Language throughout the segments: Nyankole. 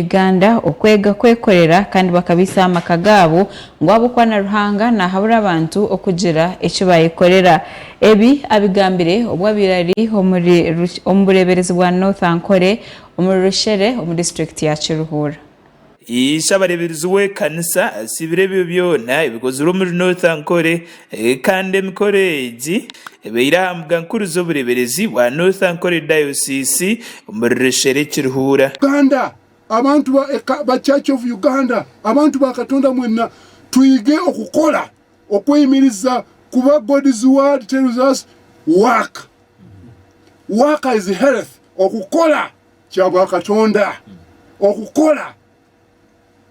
Uganda okwega kwekorera kandi bakabaisaho amaka gaabo ngu ahabw'okuba na Ruhanga naahabura abantu okugira eki baayekorera. Ebi abigambire obu abaire ari omuri omu bureeberezi bwa North Ankole omuri Rushere omu disiturikiti ya Kiruhura. Ishe abareeberezi w'ekanisa asiibire ebyo byona ebikozirwe omuri North Ankole Kandi emikoro egi ebaire aha mbuga nkuru z'obureberezi bwa North Ankole Diocese omuri Reshele Kirihuura. Uganda, Abantu ba eka ba Church of Uganda, abantu ba Katonda mwena twige okukora okweyimiriza kuba God's word tells us work work is health okukora kyabwa Katonda okukora.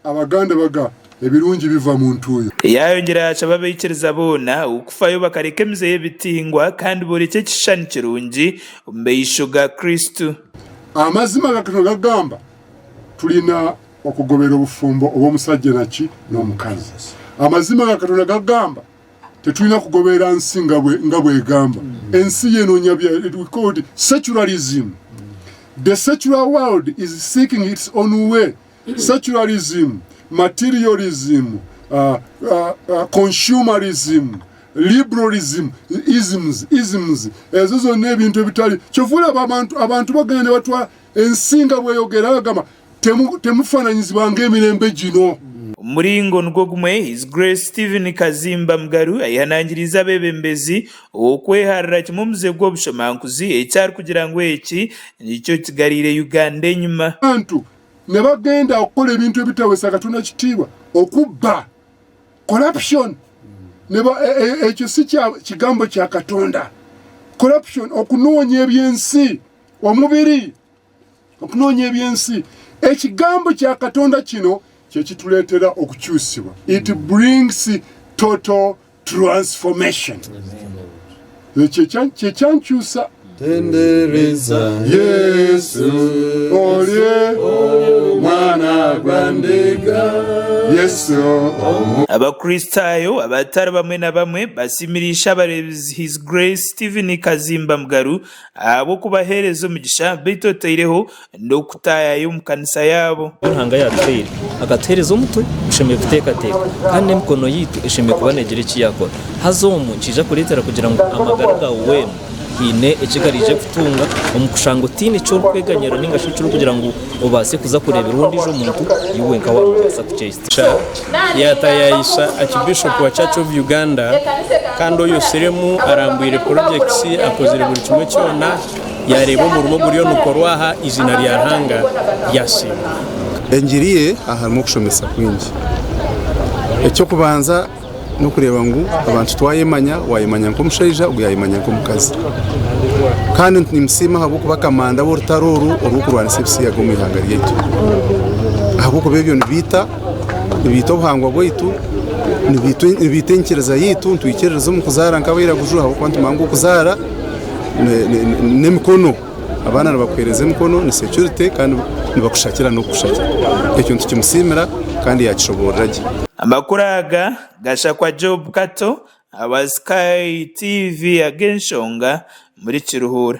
Abaganda baga ebirungi biva mu ntuuyo. Yaayongyera yaashaba abaikiriza boona okufayo bakareka emize y'ebitingwa kandi boorekye ekishushani kirungi omu maisho ga Kristo. Amazima aga Kristo gagamba, Twine okugobera obufumbo obw'omusajja naki n'omukazi. Amazima aga Katonda gagamba, Tetwine kugoberera nsi nga bwegamba. Ensi ye nonya bya we called secularism. The secular world is seeking its own way. Secularism, materialism, consumerism, liberalism, isms, isms. Ezo zona ebintu ebitari. Kyova oraba abantu abantu bagenda nibatwara ensi nga bweyogera agamba. Temufananyizibwa ng'emirembe gino. Omu muringo nigwo gumwe, His Grace Steven Kazimba Mugaru ayehanangiriize abeebembezi ow'okweharira kimwe omuze gw'obushomankuzi eki arikugira ngu eki nikyo kigareire Uganda enyima. Abantu nibagenda kukora ebintu ebitahwesa Katonda kitiibwa, okubba, corruption, ekyo si kigambo kya Katonda, corruption, okunoonya eby'ensi, omubiri. Okunoonya eby'ensi. Ekigambo kya Katonda kino ky'ekitureetera okukyusibwa. It brings total transformation. Ekyo kyankyusa. Tendereza Yesu olye omwana gwa ndiga Yesu omu. Abakristaayo abatari bamwe na bamwe basimirisha abareebizi His Grace Steven Kazimba Mugaru ahabw'okubaheereza omugisha, beitu otaireho n'okutaayaaya omu kanisa yaabo. Ebi Ruhanga yaatuhaire, akatuheereza omutwe gushemereire kuteekateeka, kandi n'emikono yaitu eshemereire kuba neegira eki yaakora. Haza omu nikiija kureetera kugira ngu amagara gaawe weena haine eki gariije kutunga, omu kushanga otaine eki orikweganyirira nainga shi eki orikugira ngu obaase kuza kureeberwa ondiijo muntu, iwe wenka waamubaasa kuceica. Cha yaatayayisa Archbishop wa Church of Uganda kandi oyo Sirimu arambwire projects akozire buri kimwe kyona yareeba omurimo oguriyo nikorwa aha eiziina rya Ruhanga ryasiimwa. Engiri ye aharimu okushomesa kwingi. Eky'okubanza. nokureeba ngu abantu twayemanya wayemanya nk'omushaija ogwo yayemanya nk'omukazi kandi nimusiima ahabw'okuba kamanda w'orutaro oru orw'okurwanisa ebisiyaga omu ihanga ryaitu ahabw'okuba ebyo nibiita nibiita obuhangwa bwaitu nibiita enyikiriza yaitu nitwikiririza omu kuzaara nk'abairaguju ahabw'okuba nitumanya ngu okuzaara n'emikono. Abaana nibakuheereza emikono ni securite kandi nibakushakira n'okukushakira. Ekyo nitukimusiimira kandi yaakishoboorora gye. Amakuru aga gashakwa Job Kato awa Sky TV ag'enshonga muri Kiruhura.